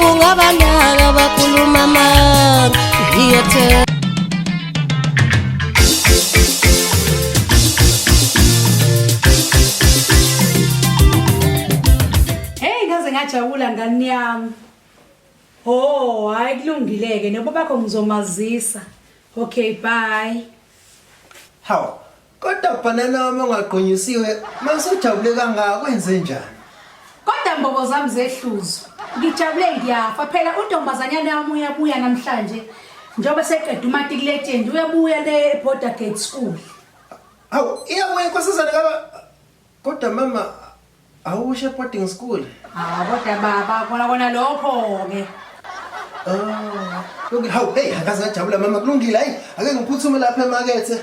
ungabanaka bakhuluma manga ngiyethemba ngajabula ngani yami ho hayi kulungileke noba bakho ngizomazisa okay bye hawu Kodwa bhanana wami ongagqunyisiwe masujabule kangaka kwenze njani? Kodwa mbobo zami zehluzwa. Ngijabule ngiyafa phela untombazanyana wami uyabuya namhlanje njengoba seqeda umatic legend uyabuya le border gate school. Awu iyabuya inkosazana kaba kodwa mama awushe boarding school. Ah kodwa baba kona kona lokho ke. Ah, okay, hawu hey akaze ngajabula mama kulungile hayi ake ngiphuthume lapha emakethe.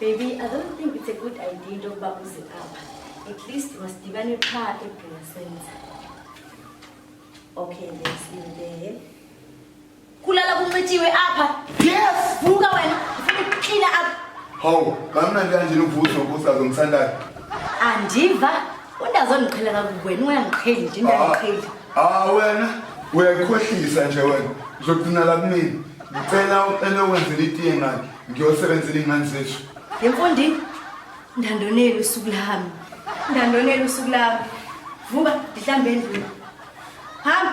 Baby, I don't think it's a good idea into yokuba uze apha. At least masidibane qha eBhunga Centre. Okay, let's see you there. Kulala kuncitshiwe apha. Yes! Vuka wena, ufuna ukuklina apha. Hawu, kamnandi kanjena uvuso ubusazo mthandayo. Andiva, undazondiqhela kakubi wena uyangiqheli nje, uyangiqheli. Ah wena uyayikhohlisa nje wena uzogcina la kumina ngicela ucele wenzela itiye ngani ngiyosebenzela ingane zethu yemfundi ndandoneli usuku lami ndandoneli usuku lami vuka ndihlambe endlini hamba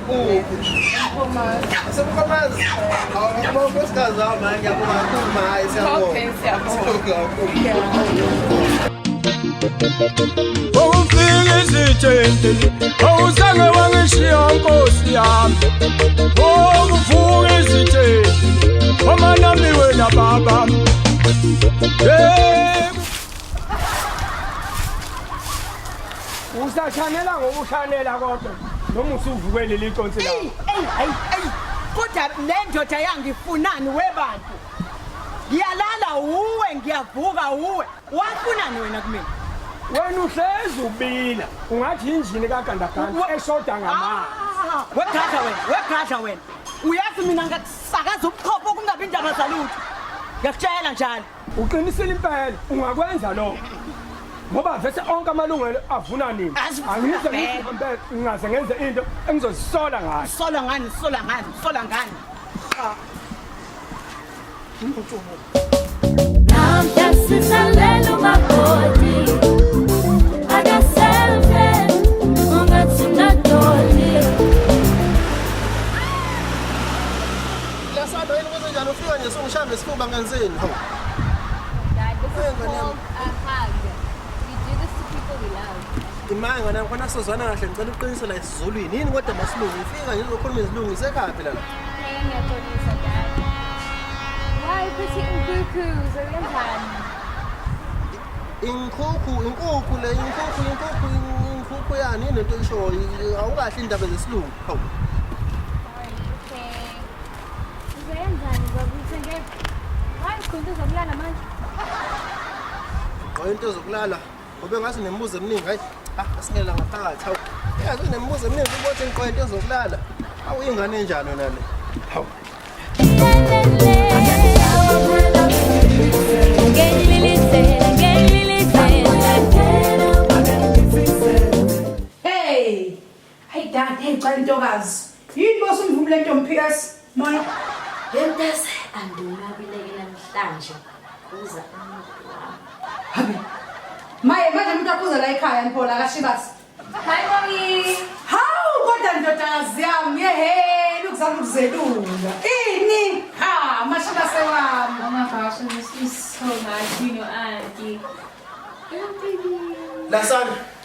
Ufika izitshenteni awuzange wangishiya nkosi yami okuvuka izitsheni omanami wena baba hey. Usashanela ngoba ushanela kodwa noma usuvuke leli tonsi la. Ey ey ey. Kodwa le ndoda yangifunani webantu. Ngiyalala uwe ngiyavuka uwe. Wafunani wena kumina? Wena uhlezi ubila. Ungathi injini kagandaganda eshoda ngamanzi. Ah, wegadla wena, wegadla wena. Uyazi mina ngakusakaza ubuchopho kungabi indaba zalutho. Ngiyakutshela njalo. Uqinisile impela ungakwenza lokho. Ngoba vese onke amalungelo avuna nini? Angize ngihambele ngaze ngenze into engizozisola ngayo. Sola ngani? Sola ngani? Sola ngani? Ah. Now that's it, I let on my body. Lasado yini ukuthi njalo ufika nje sungishambe isifuba ngenzeni? Hawu. Dad, this is Ngane yami. called a hug. We do this to people we love. Imanga ngane yami khona sozwana kahle ngicela uqinise la isiZulwini. Yini kodwa masilungu ufika nje uzokhuluma isilungu isekhaya phela la. Hey, ngiyaxolisa, Dad. Why put it in cuckoos or kanjani? Inkhukhu, inkukhu le, inkukhu, inkukhu, inkukhu yani yini into oyishoyo? Awukahle indaba zesilungu. Hawu. Uzoyenzani baba uthenge hayi ukhonto zokulala manje. Qoyo into zokulala ngoba ngathi nemibuzo eminingi hayi asingela ngaphakathi hawu. Yazi nemibuzo eminingi ukuthi ngiqoyo into zokulala. Hawu ingane enjani yona le? Hawu. Hayi dad, hey cha intokazi. Yini boss umvumu lento mphikazi? Moya. Lentas anduna bileke namhlanje. Uza Habi. Maye manje umuntu akhuza la ekhaya mphola kashibasi. Hi mommy. Hawu kodwa ndodakazi yami yeheni ukuzama ukuzelunga. Ini? Ha, mashibase wami. Mama Basho, this is so much, you know, auntie. Lasana.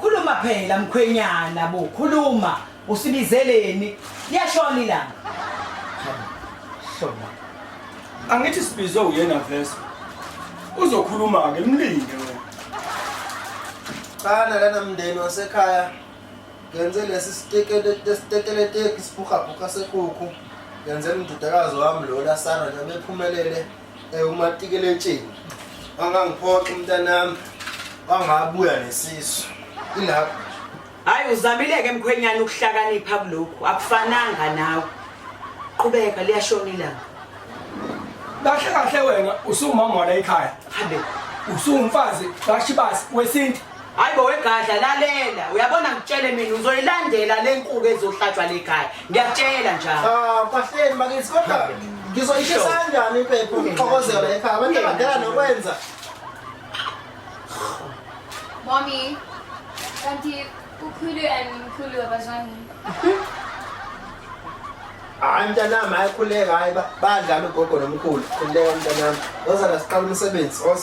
Khuluma phela mkhwenyana bo, khuluma. Usibizeleni? Liyashona ilanga. Shona. Angithi sibizwe uyena vese. Uzokhuluma ke mlinde wena. Qala lana mndeni wasekhaya. Ngenze lesi sitekele sitekele teki siphuka phuka sekuku. Ngenze umdudakazi wami lo la sana nje bephumelele. Eh umatikeletsheni. Angangiphoxa umntanami. Angabuya nesisu. Ilapho. Hayi uzamileke mkhwenyana ukuhlakanipha kulokhu. Akufananga nawe. Qhubeka liyashona ilanga. Kahle kahle wena usumama wala ekhaya. Hambe. Usumfazi kaShibasi wesintu. Hayi bo wegadla lalela uyabona ngitshele mina uzoyilandela le nkuku ezohlatshwa le khaya ngiyakutshela njalo. Ah bahleni bakithi kodwa ngizoyishisa kanjani impepho ngixokozela ekhaya abantu abadala nokwenza. Mommy kanti ukhulu and mkhulu abazwani. hayi mntanami hayi khuleka hayi badlala ugogo nomkhulu khuleka mntanami ozala siqala umsebenzi os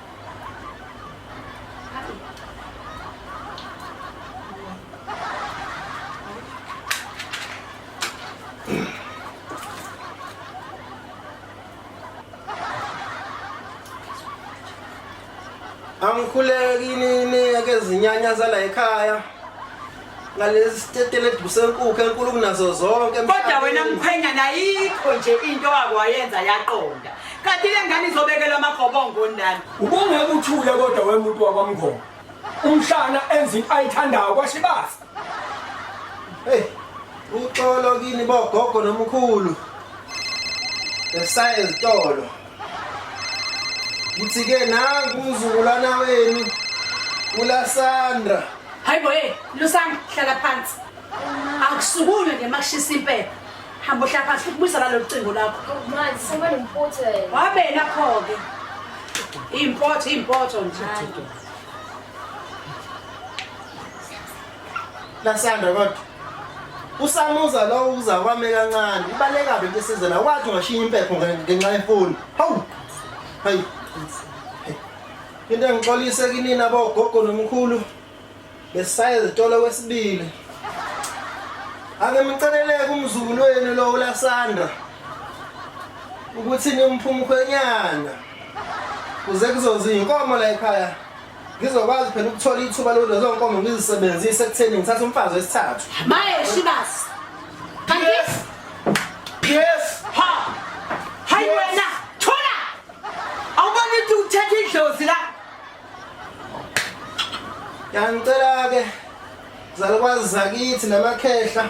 angikhuleki nini ake zinyanya zala ekhaya ngalesi stetele dusenkukhu enkulu kunazo zonke kodwa wena mkhwenyana ayikho nje into akwayenza yaqonda kanti le ngane izobekelwa amagobongo ndani ubungeke uthule kodwa wemuntu wakwamngoma umhlana enza into ayithandayo kwashibasa hey uxolo kini bogogo nomkhulu esaye ezitolo Ngithike nangu umzukulwana wenu uLasandra. Hayibo hey, Lusandra hlala phansi. Akusukume nje makushisa impela. Hamba uhlala phansi ukubuyisa lalo cingo lakho. Manje sekuba nempotho yena. Wabena pho ke. Impotho impotho nje. Lasanda kodwa usamuza lowo uza kwame kancane ibaleka into esize la wathi ungashiya impepho ngenxa yefoni hawu hayi into engixolise kinina bogogo nomkhulu besaye zitolo kwesibili ake mceleleke umzukulu wenu lo ulasandra ukuthi nimphumkhwenyana kuze kuzozinkomo la ekhaya ngizokwazi phela ukuthola ithuba lokuthi lezo nkomo ngizisebenzise ekutheni ngithathe umfazi wesithathu maye shibasi kanti yes ha hayi wena thola awubona ukuthi uthethe idlozi la yangicela ke zalukwazi zakithi namakhehla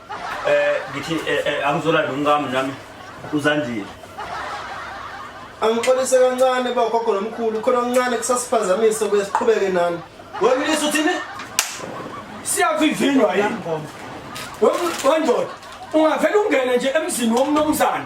Eh ngithi eh, eh, angizola nomkami nami uzandile. Angixolise kancane bagogo nomkhulu khona kancane kusasiphazamisa kuye siqhubeke nani. Wemlisa uthini? Siyavivinwa yini? Wemndoda ungavela ungene nje emzini womnomzana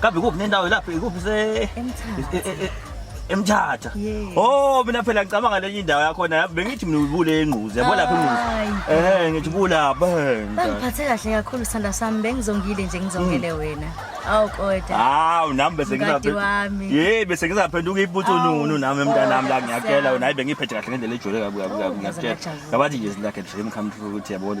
Kabi kuphi nendawo lapho ikuphi se emthatha oh mina phela ngicabanga lenye indawo yakho na bengithi mina ubule engquzi yabo lapha engquzi eh ngithi bula bhenga bangiphathe kahle kakhulu sanda sami bengizongile nje ngizongele hmm. wena awu kodwa hawu nami bese ngizaphenduka yey bese ngizaphenduka ibuthu nunu nami emntanami la ngiyakela wena hayi bengiphethe kahle ngendlela ejule kabi kabi kabi ngiyakutshela ngabathi nje zilakhe dream come true ukuthi yabona